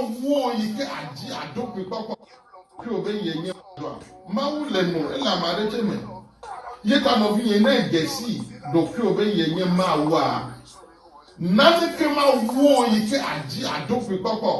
Eŋuwo yi ke àdi aɖo kpuikpɔkpɔ tso be yenye dɔa. Mawu le nɔ ele ame aɖe tse me. Ye ta nɔvinye ne ède si ɖokuiwò be yenye Mawua, naneke mawu wo yi ke àdi aɖo kpuikpɔkpɔ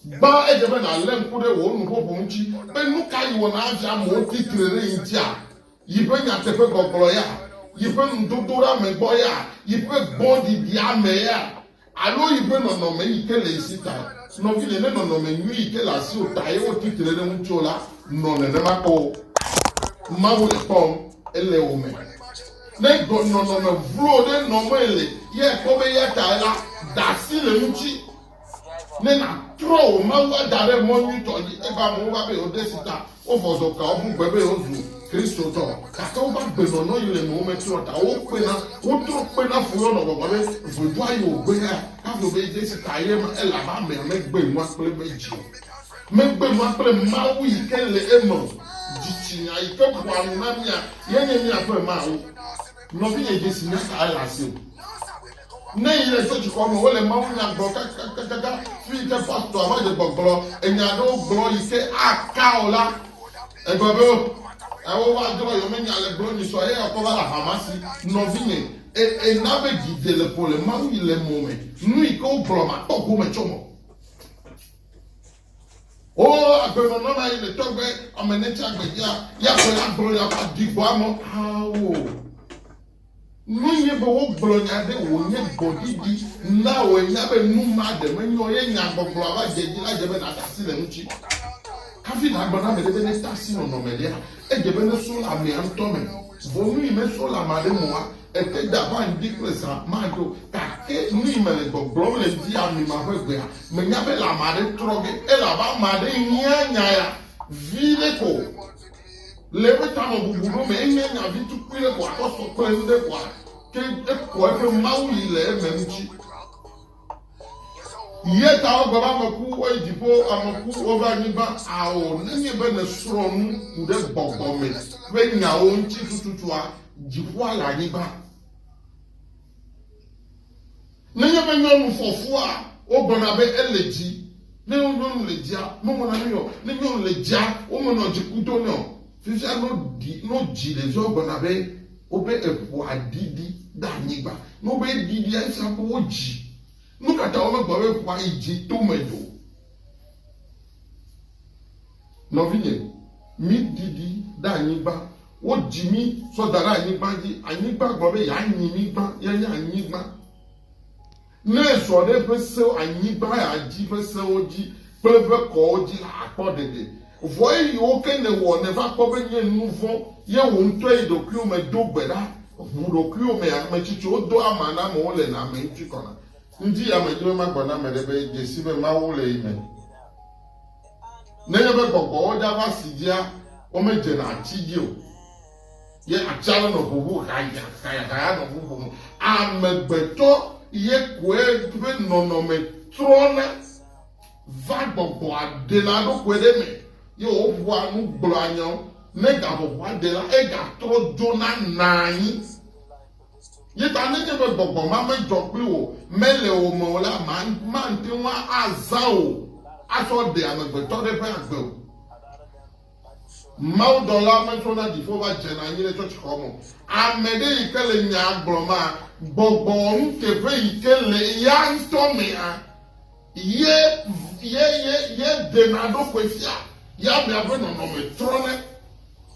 Gbã edze be nàlé ŋku ɖe wò nuƒoƒo ŋuti be nukae wɔna adzea amewo ti tre ɖe ye ŋutia, yeƒe nyateƒegbɔgblɔ ya, yeƒe nudodoɖeame gbɔ ya, yeƒe gbɔɖiɖiame ya, alo yeƒe nɔnɔme yi ke le ye si tae. Nɔvinye, ne nɔnɔme nyui yi ke le asiwò tae woti tre ɖe ŋutiwò la nɔ nenema ko Mawu le kpɔm, ele wò me. Ne nɔnɔme vlo ɖe nɔmee le ye kpɔ be eya tae la, da asi le eŋuti. Ne nàtrɔ wò Mawu ada ɖe mɔ nyuitɔ dzi, eye amewo va be yewoade si ta wovɔ zɔ kpea wo ƒu gbe be yewozu Kristotɔ, gake wova gbenɔnɔ yi le eme, wometrɔ ta o, wokpena, wotrɔ kpena fu henɔ gbɔgblɔm be, Vudo ayi wò gbe ya, kafui be de si ta ye ma, elabe amea megbe nua kple eƒe dzi o. Megbe nua kple Mawu yi ke le eme o. Dzitsinya yi ke ƒoa nu na mía ye nye míaƒe Mawu. Nɔvinye, dzesi nyaka ele asiwò. Ne yi le so dukɔ me wole mawu nya gblɔ kakakakaka fi ke pastor va dze gbɔgblɔ enya aɖewo gblɔ yi ke aka o la egblɔ be oh ewo va drɔ yɔ menya le gblɔ nyi sɔ ye ɔkɔ va la hamasi nɔvi me e e na be dzi dze le po le mawu yi le mɔ me nu yi ke wo gblɔ ma kpɔ gome tsɔ mɔ o agbenɔnɔ na yi le tɔgbe ame ne tsa gbe ya ya gbe ya gblɔ ya va di gbɔ amɔ awo. Nue nye be wogblɔ nya ɖe wònye gbɔɖiɖi na wòe nya be nu ma ɖe menyo ye nyagbɔgblɔ ava dze edzi la dze be nàda asi le eŋuti. Hafi nàgblɔ na ame ɖe be neda asi nɔnɔme ɖea, edze be neso le amea ŋutɔ me. Vɔ nu yi meso le ame aɖe mea, ete da va ŋdi kple zã madzo. Gake nu yi mele gbɔgblɔm le ŋdi amima ƒe gbea, menya be le ame aɖe trɔ ge, elabe ame aɖe hiã nya ya viɖe ko. Le eƒe tamebubu ɖo me enye nya vi tukui ɖe ko akɔ sɔ kple nu ɖe koa ke ekɔ eƒe Mawu yi le eme ŋuti. Ye ta wogbe be ame ku woyi dziƒo, ame ku wova anyigba. Ao, nenye be nèsrɔ̃ nu ku ɖe gbɔgbɔ me ƒe nyawo ŋuti tututua, dziƒoa le anyigba. Nenye be nyɔnu fɔ fua, wogblɔna be ele dzi. Ne nyɔnu le dzia, mewɔna nui o. Ne nyɔnu le dzia, womenɔa dziku do nɛ o. Fifia no ɖi, no dzi ɖevia wogblɔna be woƒe eŋua ɖiɖi ɖe anyigba. Ne wobe ɖiɖia, efia be wodzi. Nukata womegblɔ be eŋua yi dzi to me o? Nɔvinye, mí ɖi ɖi ɖe anyigba. Wo dzi mí tsɔ da ɖe anyigba dzi. Anyigba gblɔ be ya nyi mí gbã, ya nye anyigba. Ne ezɔ ɖe eƒe sewo, anyigba ya dzi ƒe sewo dzi kple eƒe kɔwo dzi la, akpɔ ɖeɖe. Vɔ eyiwo ke ne wɔ ne va kpɔ be nye nuvɔ ye wò ŋutɔ yi ɖokuiwo me do gbe ɖa, ʋu ɖokuiwo me ame tsitsiwo do ama na amewo le na ame ŋutsu kɔna. Ŋdi ya me dzi be ma gbɔ na ame ɖe be dze si be Mawu le yi me. Nenye be gbɔgbɔwo dza va si dzia womedzena atsi dzi o, ye atsia le nɔ ʋuʋu haya haya haya nɔ ʋuʋum. Amegbetɔ ye koe ƒe nɔnɔme trɔna va gbɔgbɔa ɖena ɖokui ɖe eme ye wòƒoa nu gblɔa nyawo. Ne gaƒoƒoa ɖe la, egatrɔ dzona naa anyi. Ye ta nenye be gbɔgbɔ ma medzɔ kpli wò mele wò me o la, màte ŋu azã wò atsɔ ɖe amegbetɔ ɖe ƒe agbe o. Mawudɔla metso na dziƒo va dzena anyi ɖe tsɔtsixɔ me o. Ame ɖe yi ke le nyaa gblɔmaa, gbɔgbɔ wɔnuteƒe yi ke le eya ŋutɔ mea. Ye, ye, ye, ye ɖena eɖokui fia, ye amea ƒe nɔnɔme trɔnɛ.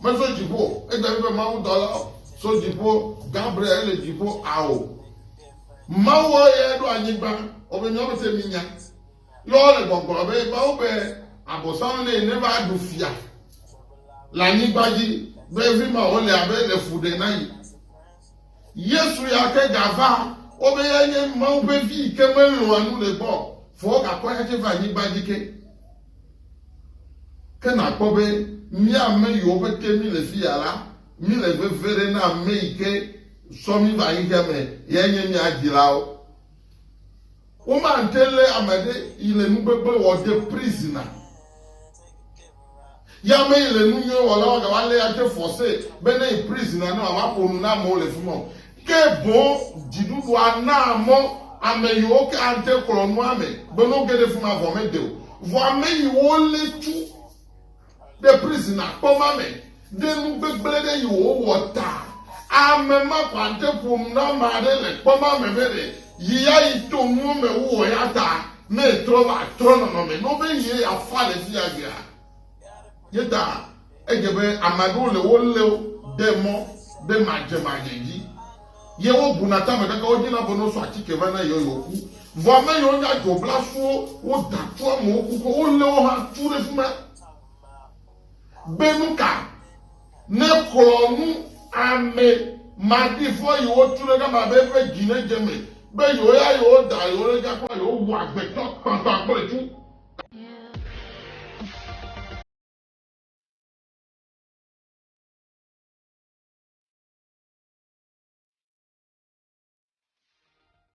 Metso dziƒo o. Edze ƒe be Mawu dɔla tso dziƒo, Gabriel, ele dziƒo ao. Mawu ye ɖo anyigba, wobe nyɔnu se mi nya. Ye wole gbɔgblɔ be Mawu be abosam ne ne va ɖu fia le anyigba dzi, be evi ma wole abe le fu ɖe na yi. Yesu ya ke gava kpɔ be ya nye Mawu ƒe vi yi ke melɔ̃a nu le gbɔ o, vɔ wogakɔ eya tsɛ va anyigba dzi ke. Ke nàkpɔ be mía ame yiwo ƒe te míle fi ya la, míle veve ɖe na ame yi ke sɔ mí va xexea me yae nye mía dzilawo. Womate lé ame aɖe yi le nugbegble wɔ de prizina. Yamee le nu nyuiwo wɔla wɔ gawa lé ade force be ne yi prison alo alo aƒo nu na amewo le fima o. Ke boŋ dziɖuɖua naa mɔ ame yiwo ke ate klɔ nua me be no ge ɖe fima vɔ mede o. Vɔ ame yiwo lé tu ɖe prison akpɔ ma me Ɖe nu gbegblẽ ɖe yi wòwɔ ta ame ma ƒe aɖe ƒom na ame aɖe le kpɔ ma me be ɖe yi ya yi to nuwo me wu o ya ta ne etrɔ va trɔ nɔnɔme nɔ be yie ya fa le fiya egbea. Ye ta edze be ame aɖewo le wo leo de mɔ ɖe madze madze dzi ye wo buna tame kaka wo dzi na be no so atike va na yio yio ku. Vɔ ame yiwo nye adzɔblasuwo wo da tu amewo ku ke wo leo hã tu ɖe fima. be nuka nexlɔ nu ame maɖifɔ yi wo tu ɖe gama be eƒe dzi ne dze me be yewo ya yewo da yewo ɖe dza kpla yewo wu agbetɔ kpakpa kple tsu.